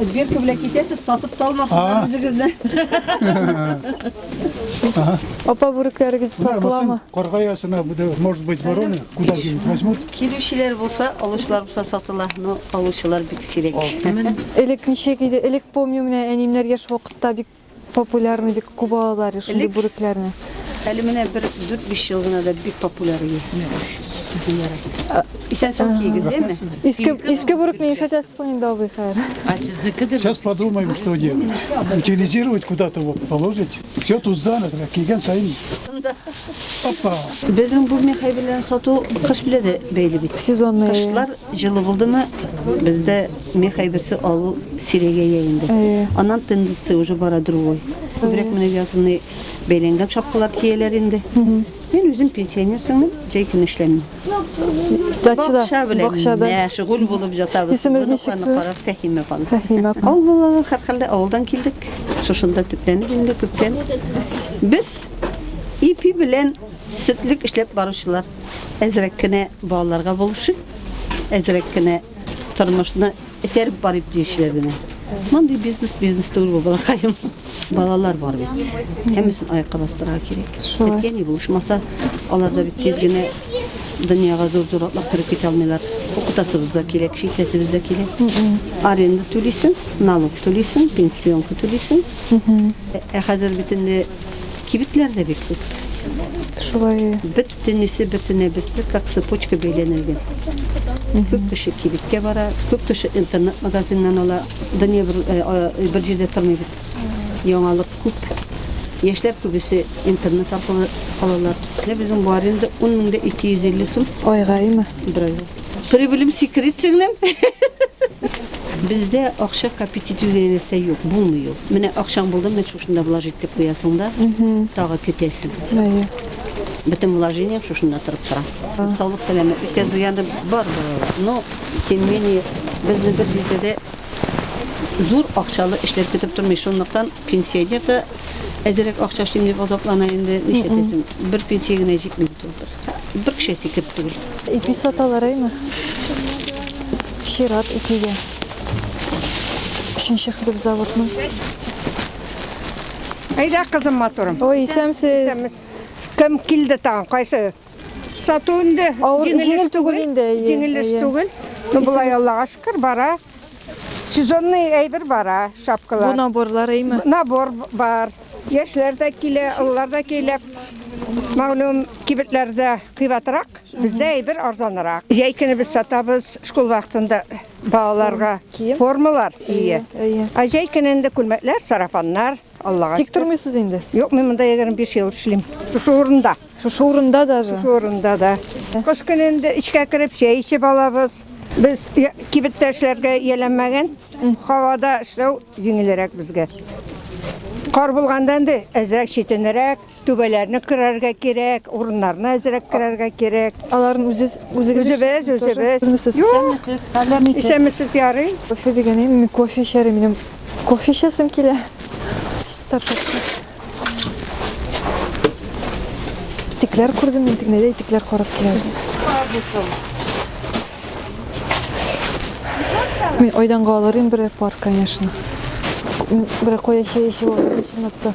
Дверка белән китәсез, сатып та алмасыннар үзегезне. Апа бүрекләрегез сатыламы? Карга ясына, бу да, может быть, вороны, куда деньги возьмут? Килүчеләр булса, алучылар булса сатыла, но алучылар бик сирәк. Элек ничек иде? Элек помню, менә әниемнәр яшь вакытта бик Популярны бик күп алалар шундый бүрекләрне. Әле менә бер 4-5 ел гына да бик популяр ие. Исән сау кигез, әйме? Иске иске бүрек не ишәтә соң инде абый хәер. А сезнеке дә Сейчас подумаем, что делать. Утилизировать куда-то вот положить. Все тут занято, киген сайын. Опа. Безнең бу мехай белән сату кыш белән дә бәйле бит. Сезонный. Кышлар җылы булдымы, бездә Меха берсе алу сирәгәя инде. Аннан тенденция уже бара другой. Күбрәк менә язны бәйләнгән шапкалар кияләр инде. Мин үзем пенсионер сыңмын, җәй көне эшләмим. Дачада, Бакча белән бакчада. мәшгуль булып ятабыз. Исемез Бу ничек ноктаны карап, Фәһимә апам. Фәһимә апа. Авыл балалары һәрхәлдә авылдан килдек. Шушында төпләнеп инде күптән. Без ипи белән сөтлек эшләп баручылар. Әзрәк кенә балаларга булышып, әзрәк кенә Тормышны этәреп барып диючеләр генә. Мондый бизнес бизнес түгел бу балакаем. Балалар бар бит. Һәммәсен аякка бастырырга кирәк. Шулай. Әткә ни булышмаса, алар да бит тиз генә дөньяга зур-зур атлап кереп китә алмыйлар. Укытасыбыз да кирәк, шитәсебез дә кирәк. Аренда түлисең, налог түлисең, пенсионка түлисең. Ә хәзер бит инде кибетләр дә бик күп. Шулай. Бөт Төнлисе берсенә берсе как цепочка бәйләнелгән. Күп кеше кибеткә бара, күп кеше интернет-магазиннан ала. Дөнья бер, э, э, бер җирдә тормый бит. Яңалык күп. Яшьләр күбесе интернет аркылы алалар. Менә безнең бу аренда 10 меңдә 250 сум Айгаймы? бер айга. Прибылем секрет сеңлем. Бездә акча копить итү дигән нәрсә юк, булмый ул. Менә акчаң булды, менә шушында влажить итеп куясың да, тагы көтәсең. Әйе. Бөтен вложением шушында торып тора. Саулык сәламәтлеккә зыяны бар балалар. Но тем не менее безне бер җирдә дә зур акчалы эшләр көтеп тормый. Шунлыктан пенсионер да әзерәк акча эшлим дип азаплана инде. Нишләтәсең? Бер пенсия генә җитми бит ул. Бер кеше сикереп түгел. Ипи саталар әйме? Чират ипигә. Өченче хлеб заводның. Әйдә, кызым, матурым. Ой, исәмсез. Кем килде тагын? Кайсы? Сату инде. Авыр, җиңел түгел инде. Җиңел эш түгел. Ну, болай Аллага шөкер, бара. Сезонный әйбер бара, шапкалар. Бу наборлар әйме? Набор бар. Яшьләр дә килә, олылар да килә. Мәгълүм кибетләрдә кыйбатрак, бездә әйбер арзанрак. Җәй көне без сатабыз, школ вакытында Балаларга кием. формалар ие. Әйе. Ә җәй көнендә күлмәкләр, сарафаннар, Аллага. Тик тормыйсыз инде. Юк, мин монда 25 ел эшлим. Шушы урында. Шушы урында даже. Шушы урында да. Кыш көнендә эчкә кереп чәй эчеп алабыз. Без кибеттә эшләргә ияләнмәгән. Һавада эшләү җиңелрәк безгә. Кар булганда инде әзрәк читенрәк. Түбәләрне кырарга кирәк, урыннарны әзрәк кырарга кирәк. Аларны үзе үзегез үзебез үзебез. Исәнмесез, хәлләр ничек? Исәнмесез, ярый. Кофе дигәне мин кофе эчәрем минем. Кофе эчәсем килә. Стартапсы. Итекләр күрдем, мин тегнәдә итекләр карап киләбез. Мин айданга алырым бер пар, конечно. Бер коя чәй эчеп алырым, чынлап та.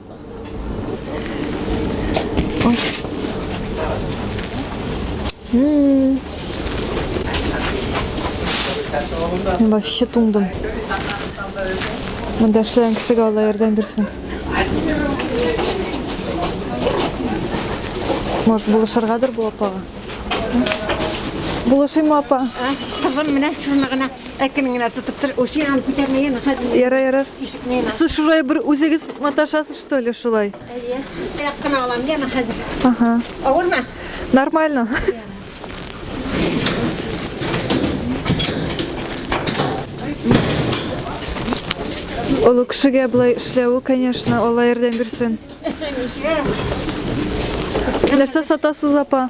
Вообще туңдым. Мында эшләгән кешегә Алла ярдәм бирсен. Может, булышыргадыр бу апага? Булышыймы апа? Кызым, менә шуны гына Әкрен генә тотып тор. Ул сиңа күтәрмә, яна хәзер. Ярар, ярар. Ишекне яна. Сез шулай бер үзегез маташасыз, что ли, шулай? Әйе. Аяк кына алам, яна хәзер. Ага. Авырмы? Нормально. Олы кешегә болай эшләве, конечно, Алла ярдәм бирсен. Нәрсә сатасыз, апа?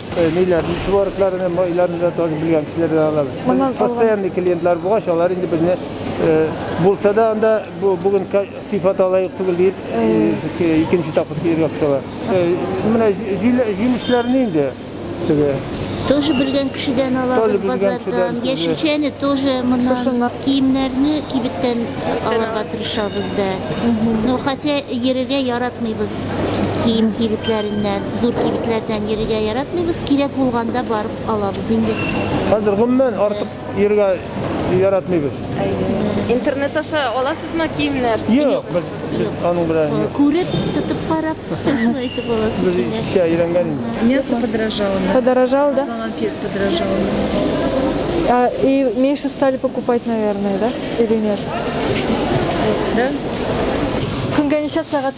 Милләт ничуарлыкларын һәм гаиләләрен дә танып белгән кешеләрдән алабыз. Моннан постоянный клиентлар булгач, алар инде безне булса да анда бүген сыйфаты лаек түгел дип, икенче тапкыр килергә кушалар. Менә җимешләрне инде теге Тоже белгән кешедән алабыз базардан. Яшелчәне тоже моннан киемнәрне кибеттән алырга тырышабыз да. Ну, хотя йөрергә яратмыйбыз. кием кибетләреннән, зур кибетләрдән йөрергә яратмыйбыз, кирәк булганда барып алабыз инде. Хәзер гомумән артык йөрергә яратмыйбыз. Интернет аша аласызмы киемнәр? Юк, без аның белән юк. Күреп, тотып карап, шулай итеп аласыз. Без киемнәр. икенче әйләнгән инде. Мясо подорожало. на- Подорожал, да? Конфет подорожало. А, и меньше стали покупать, наверное, да? Или нет? Да? Көнгә ничә сәгать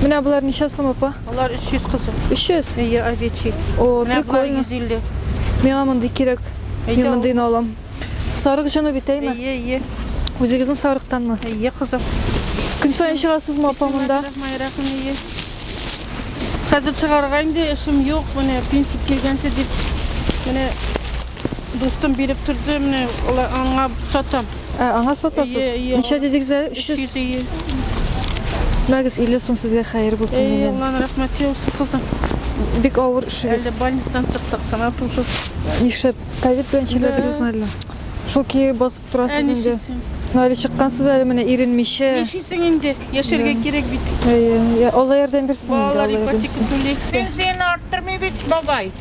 Менә болар ничә сум, апа? Алар 300 кызым. 300? Әйе, овечий. О, Менә болар прикольно. 150. Миңа мондый кирәк. Әйдә, Мин мондыйны алам. Сарык җыну бит, әйме? Әйе, әйе. Үзегезнең сарыктанмы? Әйе, кызым. Көн саен чыгасызмы, апа, монда? Майрахым, әйе. Хәзер чыгарга инде эшем юк. Менә пенсия килгәнче дип. Менә Дустым биреп торды, менә алар аңа сатам. Ә, аңа сатасыз? Ие, ие. Ничә дидегез әле? 300. 300 ие. Мәгез 50 сум сезгә хәер булсын Ей, дигән. Алланың рәхмәте яусын, кызым. Бик авыр эшегез. Әле больницадан чыктык кына тусы. Нишләп? Ковид белән чирләдегезме әллә? Шул кире басып торасыз Әни инде. чисен. Ну, әле чыккансыз әле менә иренмичә. Яшисең инде, яшәргә кирәк бит. Әйе, я- Алла ярдәм бирсен инде, Балалар Алла ярдәм ипотека бирсен. түли. Пенсияне арттырмый бит бабай.